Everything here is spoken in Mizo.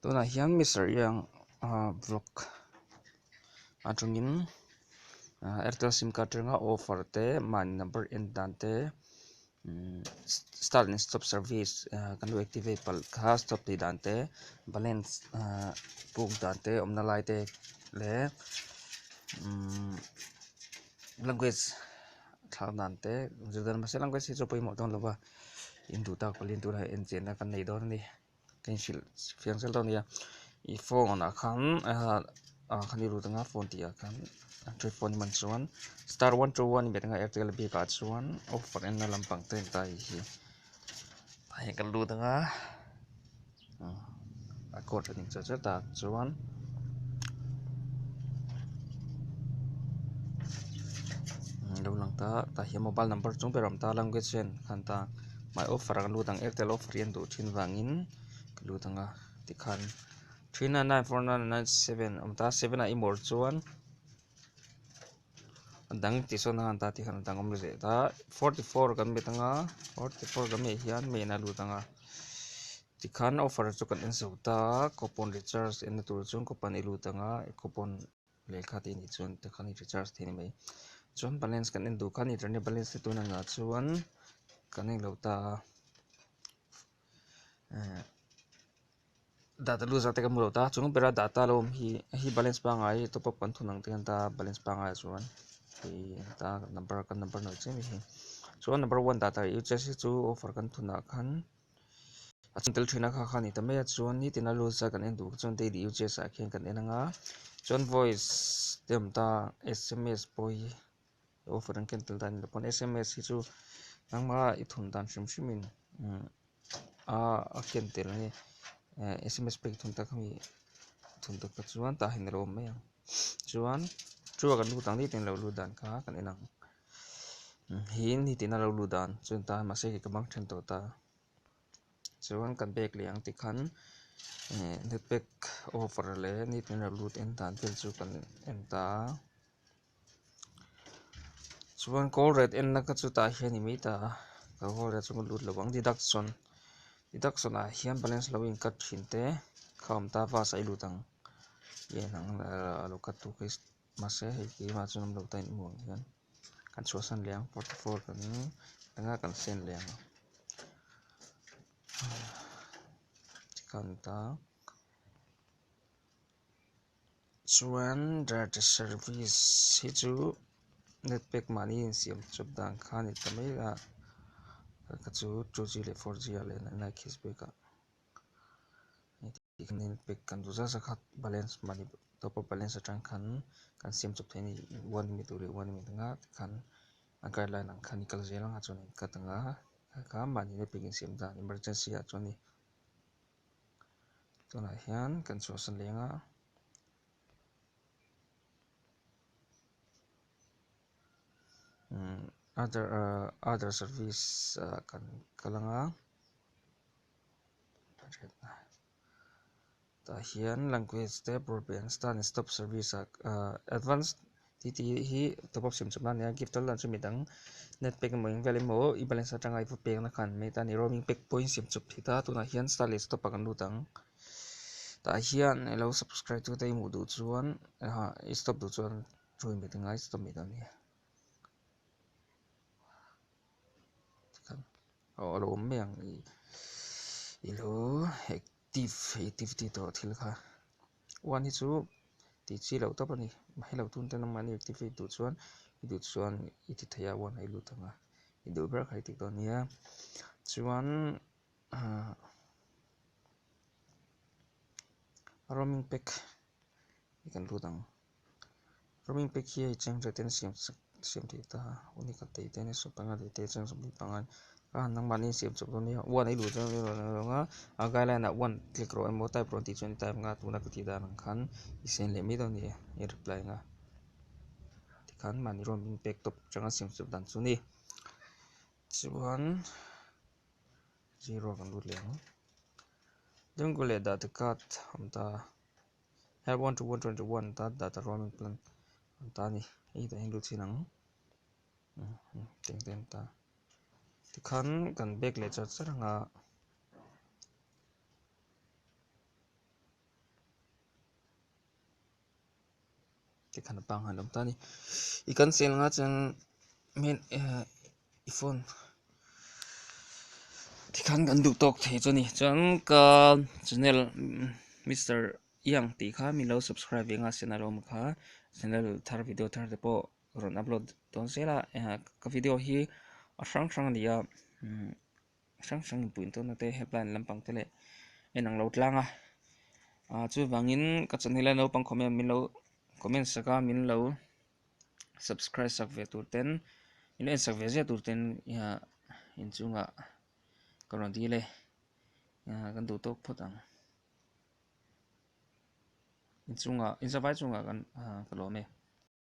tunah hian Mister Yang ah vlog atangin ah airtel sim card atanga offer te mahni number en dan te umm start leh stop service ah kan rawn activate palh kha stop tih dan te balance ah buk dan te awmna lai te leh umm language thlak dan te zirlai mahse language hi chu pawimawh dawn lo va. in duh tak pawh in tunah hi enchianna kan nei dawn a ni kan hrilh fiam sal dawn a nia i phone ah khan ah khan i ru dang a phone tih ah khan android phone hi man chuan star one two one inbeh dang a airtel bik ah chuan offer enna lampang te an tar hi a hei ka lut ang a. a court a dik zet zet a chuan umm lo lang ta tah hian mobile number chu ber awm ta language hian a han ta hmai offer ang lut ang airtel offer hi an duh thin vangin ka lut ang a tikhan three nine nine four nine nine seven a awm ta seven ah i mawr chuan-- a dang tih sawn a han ta tih khan a dang awm leh ta forty four kan be tanga forty four kan meh hian meh na lut anga ti khan offer chu kan en so ta a coupon recharge en na tur chu coupon i lut anga coupon lehkha te nih chuan ta khan i recharge thei ni mai chuan balance kan en duh khan i ṭan i balance te tuna nahah chuan kan en lo ta a. data loser te kan hmu lo ta a chung bera data lo awm hi a hi balance pangai hi top up kan thun ang te hian ta balance pangai ah chuan hei ta number kan number nuih chiah mai hi chuan number one data hi ucs hi chu offer kan thun ah khan a chhan tel thin a kha kha a ni ta mai a chuan nitin a loser kan en duh chuan daily ucs ah khian kan en ang a chuan voice te awm ta sms pawh hi-- Offer an cancel dan lo pawn sms hi chu nangmara i thun dan hrim hrim in a a ken tel a ni sms pek thun tak ami thun tak tak chuan tah hian a lo awm mai ang chuan chu a kan lut ang diai tan lo lut dan kha kan en ang hian hetian a lo lut dan chuan ta hian mahse ka bang then tawh ta chuan kan bag leh ang ti khan eh netpack offer leh ni tih in a lo lut en dan tel chu kan en ta a. Chuan kawl ret enna ka chutah hian i mei ta a, ka kawl ret chu ka lut lo ang deduction deduction ah hian balance lo in cut thin te kha awm ta vasa i lut ang i en ang a lo cut tu hi mahse hei keimah chuan awm lo ta in amuh ang hian kan chhuah san leh ang forty four kan ni a eng a kan send leh ang chikha a ni ta. chuan data service hi chu net pack mahni in siam chawp dan kha a ni ta mai a ka chu two g leh four g ah leh nine nine kiss bik ah net pack kan duh zat zat kha balance mahni top up balance atang khan kan siam chawp thei a ni one minute duh leh one minute anga te khan a guideline ang khan a ni kal zel ang a chuan a in cut ang a heti kha mahni net pack insiam dan emergency ah chuan-- tunah hian kan chhuahsan leng a umm other ahh other service ah kan kal ang a tah hian language te broadband star leh stop service ah ahh advance -- Titi hi top up siam chhuk nan nia gift a lunch a mit ang net pack emaw engvia lem maw i balance atanga i va pek na kha an mate a ni roaming pack pawhin siam chhuk thei ta tunah hian star leh stop a kan lut ang tah hian elo subscribe tu te i hmuh duh chuan aah i stop duh chuan thu inbe ti ngai stop mai ta nia tikhan aw alo awm mai ang ni ilo hek. Tif i tif tih tawh thil kha uan hi chu tih chi loh tawp a ni. Mahilo tun te nangmahni i tif duh chuan i duh chuan i ti theih a uan i lut ang a, i duh ber kha i ti tawh a nia. Chuan ah roaming pack hi kan lut ang. Roaming pack hi hei cheng rate-in siam siam theih ta a, uni ka tei te nasa panga leh te cheng zawk bik pangan ka han nangmahni in siam chawp dawn nia, one a i luh zawk emaw ni loh a, guideline ah one click rawh emaw type rawh an tih chuan i type ang a, tuna ka tih dan ang khan i sen leh mai dawn nia i reply ang a, tikhan mahni roaming pack top changa siam chawp dan chu ni. Chuan zero a kan lut leh ang, jungle leh date card a awm ta a. Help one to one to one one ta dah ta roaming plan an ta ani hei ta hian lu chhin ang teng te an ta tikhan kan bag leh char char anga te khan a panghal awm ta a ni i cancel anga chuan main ehh i phone ti khan kan duh tawk thei chu a ni chuan ka channel Mister Yang tih kha min lo subscribe ve nghal siam alawm kha channel thar video thar te pawh rawn upload dawn zel a ehh ka video hi a hrang hrang a ni a. hrang hrang inpui in tûrna te helpline lampang te leh en ang lo tlâng a ah chuvangin ka chawnh hi lai naupang comment min lo comment sak a min lo subscribe sak ve tûr ten min lo en sak ve ziah tûr ten ah inchûngah ka rawn dîl e ah kan duh tâwk phawt ang inchûngah inzavai chungah kan ah ka lâwm e.